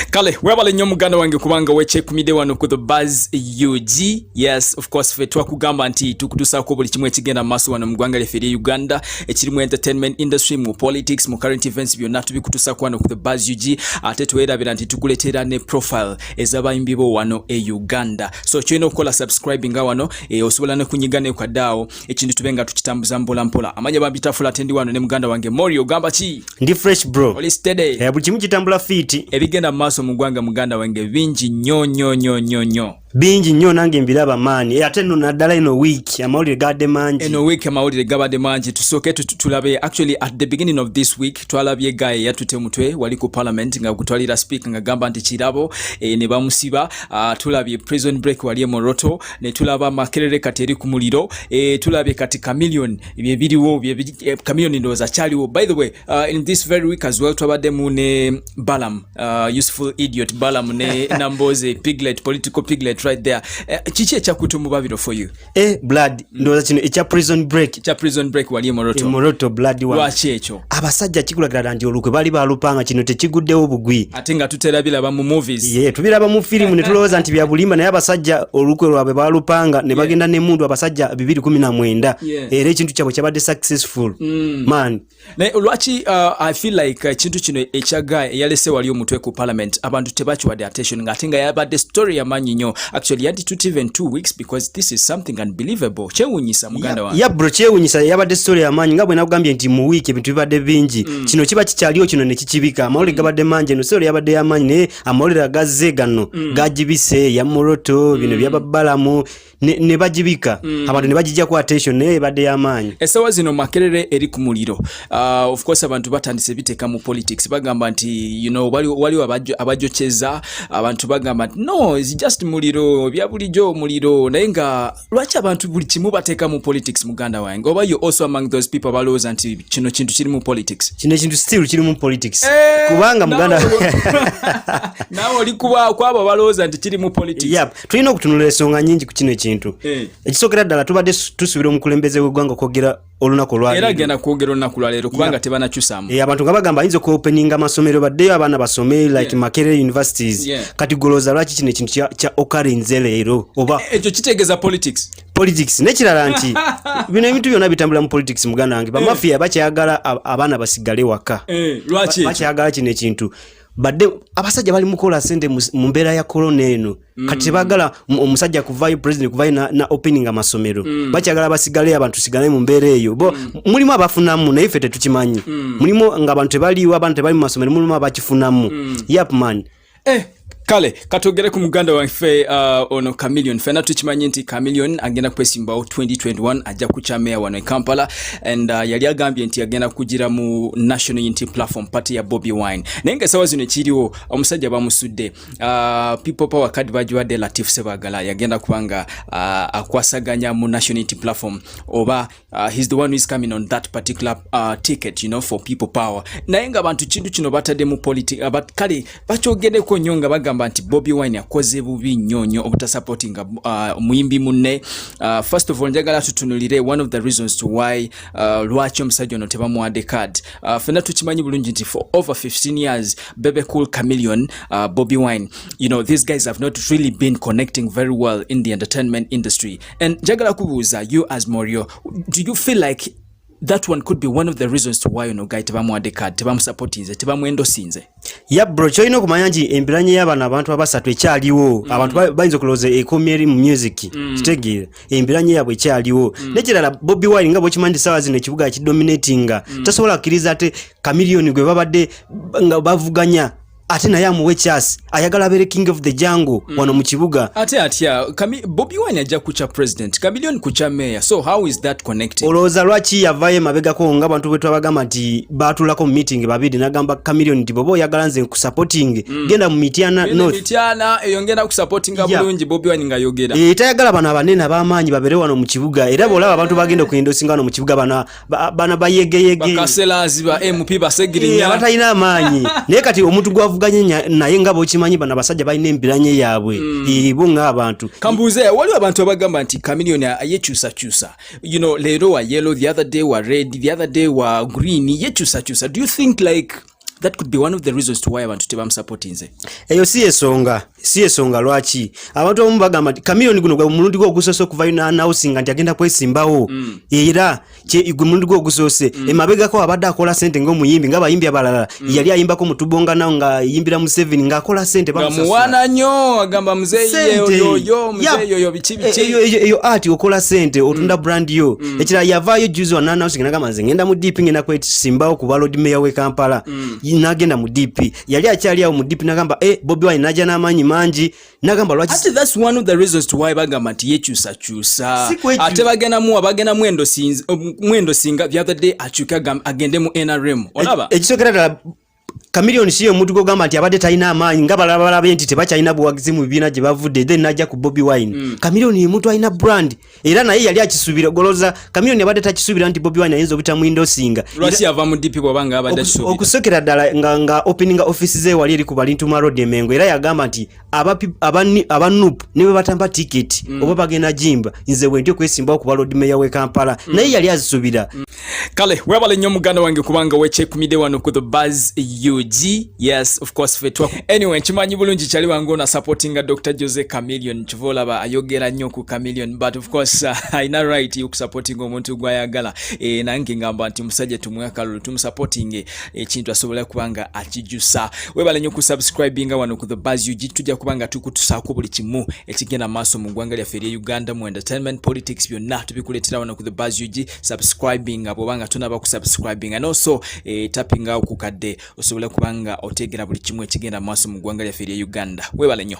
kale webale nnyo muganda wange kubanga wekyekumide wano ku the buzz ug yes of course fe twakugamba nti tukutusaako buli kimu ekigenda mu maaso wano mu ggwanga lyaffe erye uganda ekiri mu entertainment industry mu politics mu current events byonna tubikutusaako wano ku the buzz ug ate twerabira nti tukuleteera ne profile ezabayimbi bo wano e uganda so kyolina okukola subscribe nga wano e, osobola nekunyiga nekwadaawo ekintu tube nga tukitambuza mpola mpola amanya babita fula tendi wano ne muganda wange mori ogamba ki ndi fresh bro oli steady eh buli kimu kitambula fiti ebigenda maso mugwanga muganda wange bingi nyo nyo nyo nyo nyo bingi nyo nange mbiraba maani eh, ate no nadala ino week amawulire gade mangi ino week amawulire gabade mangi tusoke tulabe actually at the beginning of this week twalabye gaye yatute mutwe wali ku parliament nga kutwalira speaker nga gamba nti kirabo e, ne bamusiba uh, tulabye prison break wali e moroto ne tulaba makerere kati eri ku muliro e, tulabye kati chameleon bye biriwo bye eh, chameleon ndoza chaliwo by the way uh, in this very week as well twabadde mu ne balam uh, useful idiot balam ne namboze piglet political piglet right there eh, kiki uh, ekyakutu mu babiro for you eh blood ndoza kino ekya prison break ekya prison break wali e moroto e moroto blood wa lwaki ekyo abasajja kikulagira nti olukwe bali balupanga kino tekiguddewo bugwi ate nga tutera bilaba mu movies ye yeah, tubiraba mu firimu ne tulowooza nti byabulimba naye abasajja olukwe lwabwe balupanga ne bagenda yeah. nemundu abasajja 219 yeah. era ekintu kyabwe kyabadde successful mm. man naye lwaki uh, i feel like uh, ekintu uh, kino ekya guy eyalese wali omutwe ku parliament abantu tebakiwadde attention nga ate nga yabadde story yamanyi nyo actually yandi tuti even two weeks because this is something unbelievable kyewunyisa muganda wange ya bro kyewunyisa yabadde story ya manyi nga bwe nagambye nti mu week ebintu bibadde bingi mm. kino kiba kikyaliyo kino ne kikibika amawulire mm. gabadde mangi no story yabadde ya manyi naye amawulire agazze gano mm. gajibise ya moroto mm. bino byababalamu ne, ne bajibika mm. abantu ne bajijja ku attention naye ebadde ya manyi esawa zino makerere eri ku muliro Uh, of course abantu batandise biteka mu politics bagamba nti you know waliwo abajoceza abantu bagamba nti no is just muliro bya bulijo muliro naye nga lwaki abantu buli kimu bateka mu politics muganda wange oba you also among those people balowooza nti kino kintu kiri mu politics kino kintu still kiri mu politics hey, eh, kubanga muganda nawe oli kuba kwabo abalowooza nti kiri mu politics yep. tulina okutunula ensonga nyingi ku kino ekintu hey. Eh. ekisookera ddala tubadde tusubira omukulembeze w'eggwanga okwogera olunaku olwaleero era genda kwogera olunaku lwaleero kubanga yeah. tebanakyusamu e, eh, abantu nga bagamba ayinza okuopeninga amasomero baddeyo abaana basome like yeah. makerere universities yeah. kati goloza lwaki kino ekintu kya okarinze leero oba e, ekyo kitegeeza politics politics nekirala nti bino ebintu byona bitambula mu politics muganda wange bamafia eh. bakyagala abaana basigale waka eh, lwaki bakyagala kino ekintu badde abasajja bali mukola sente mu mbeera ya corona eno mm. kati tebagala omusajja kuvayo president kuvayo na, na opening amasomero mm. bakyagala basigale abantu sigale mu mbeera eyo bo mm. mulimu abafunamu naye ffe tetukimanyi mm. mulimu nga abantu tebaliwo abantu tebali mu masomero mulimu abakifunamu mm. yap man eh, kale katwogere ku muganda waffe uh, ono Chameleone fena tukimanyi nti Chameleone agenda kwesimbawo 2021 ajja kukya meya wano e Kampala and uh, yali agambye nti agenda kugira mu National Unity Platform party ya Bobby Wine naye nga esawa zino ekiriwo omusajja bamusudde uh, people power card bagiwadde Latif Sebagala yagenda kubanga uh, akwasaganya mu National Unity Platform oba Uh, he's the one who is coming on that particular uh, ticket you know for people power naye nga abantu kintu kino batadde mu politic uh, but kale bakyogereko nnyo nga bagamba nti Bobby Wine akoze bubi nnyo nnyo obutasupportinga uh, muyimbi munne uh, first of all njagala tutunulire one of the reasons to why uh, lwaki omusajja ono tebamuwadde card uh, fena tukimanyi bulungi nti for over 15 years Bebe Cool Chameleon uh, Bobby Wine you know these guys have not really been connecting very well in the entertainment industry and njagala kubuuza you as morio do you feel like that one could be one of the reasons to why ono guy tebamuwadde card tebamusupportinze tebamuendosinze ya bro kyolina okumanya nti embiranye y'abano abantu abasatu ekyaliwo mm. abantu bayinza okulowooza ekomye eri mu music mm. kitegeera embiranye yaabwe ekyaliwo mm. nekirala bobi wine nga bwekimanyi nti saawa zino ekibuga kidominatinga mm. tasobola kukkiriza ate kamiliyoni gwe babadde nga bavuganya ate naye amuwe chas ayagala abere king of the jango mm. wano mu kibuga ate atya bobi wine ajja kukya president kamilion kukya mayor so how is that connected olowooza lwaki yavayo emabegako nga abantu bwe twabagamba nti baatulako mu meeting babiri nagamba kamilion nti boba oyagala nze nkusupporting mm. genda mu mityana northmityana eyo ngenda kusupportinga yeah. bulungi bobi wine ngayogera e, eh, tayagala bano abanene abamaanyi babere wano mu kibuga era bwolaba abantu bagenda okuyendosinga wano mu kibuga bana bana bayegeyege bakaselazi ba MP basegirinya batalina amaanyi naye kati omuntu gwavuganye naye nga bokimanyi bana basajja balina embiranye yaabwe mm. ibo nga abantu kambuze waliwo abantu abagamba nti kamiliyoni yekyusakyusa you know leero wa yellow the other day wa red the other day wa green yekyusakyusa do you think like that could be one of the reasons to why abantu tebamusupportinze eyo si yesonga si yesonga lwaki abantu abamu bagamba nti kamiyoni guno gwe mulundi gwe ogusoose okuvayo nanausinga nti agenda kwesimbawo mm. era gwe mulundi gwe ogusoose mm. emabegako abadde akola sente ngaomuyimbi nga bayimbi abalala mm. yali ayimba mutubonga nao nga yimbira museveni ngaakola sente bamuwana nyo agamba muzeeyi yoyo muzeeyi yoyo biki biki eyo ati okola sente otunda mm. brand yo mm. mm. ekirala yavaayo juzi wananausinga nagamba nze ngenda mu dp ngenda kwesimbawo kuba lord mayor we kampala mm. nagenda mu dp yali akyali awo mu dp nagamba e eh, bobi wine naja n'amaanyi mangi nagamba lwakibagamba nti yekyusakyusa ate bagendamuwa bagendamu mwendo singa the other day akyuke agende mu nrm olaba e, ekisokera ddala Chameleone siyo omuntu gwogamba nti abadde talina amaanyi nga balala balabe nti tebakyalina buwagizi mu bibiina gye bavudde then najja ku Bobi Wine mm. Chameleone ye muntu alina brand era naye yali akisuubira goloza Chameleone abadde takisuubira nti Bobi Wine ayinza obutamu indosinga lwaki yava mu DP bwaba nga abadde akisuubira okusokera ddala nga nga opening office ze wali eri ku Balintuma Road Emengo era yagamba nti aba nup ne bwe batamba tiketi mm. oba bagenda jimba nze wendi okwesimbawo kuba lord mayor we kampala mm. naye yali azisubira mm. kale webale nnyo muganda wange kubanga wekyekumide wano ku the bas ug yes of course fetwa anyway nkimanyi bulungi kyali wange ona supportinga dr jose camilion kiva olaba ayogera nnyo ku camilion but of course uh, ayina right yokusupportinga omuntu gwayagala e, nange ngamba nti musajja tumwe akalulu tumusupportinge ekintu asobola kuba nga akijusa webale nyo kusubscribinga wano ku the bas ug tujja kuba nga tukutusaako buli kimu ekigenda maaso mu ggwanga lyaffe erye uganda mu entertainment politics byonna tubikuleetera wano ku the bas ug subscribinga bwoba nga tonaba kusubscribinga noso e, eh, tapinga okukadde osobola kuba nga oteegera buli kimu ekigenda maaso mu ggwanga lyaffe erye uganda webale nyo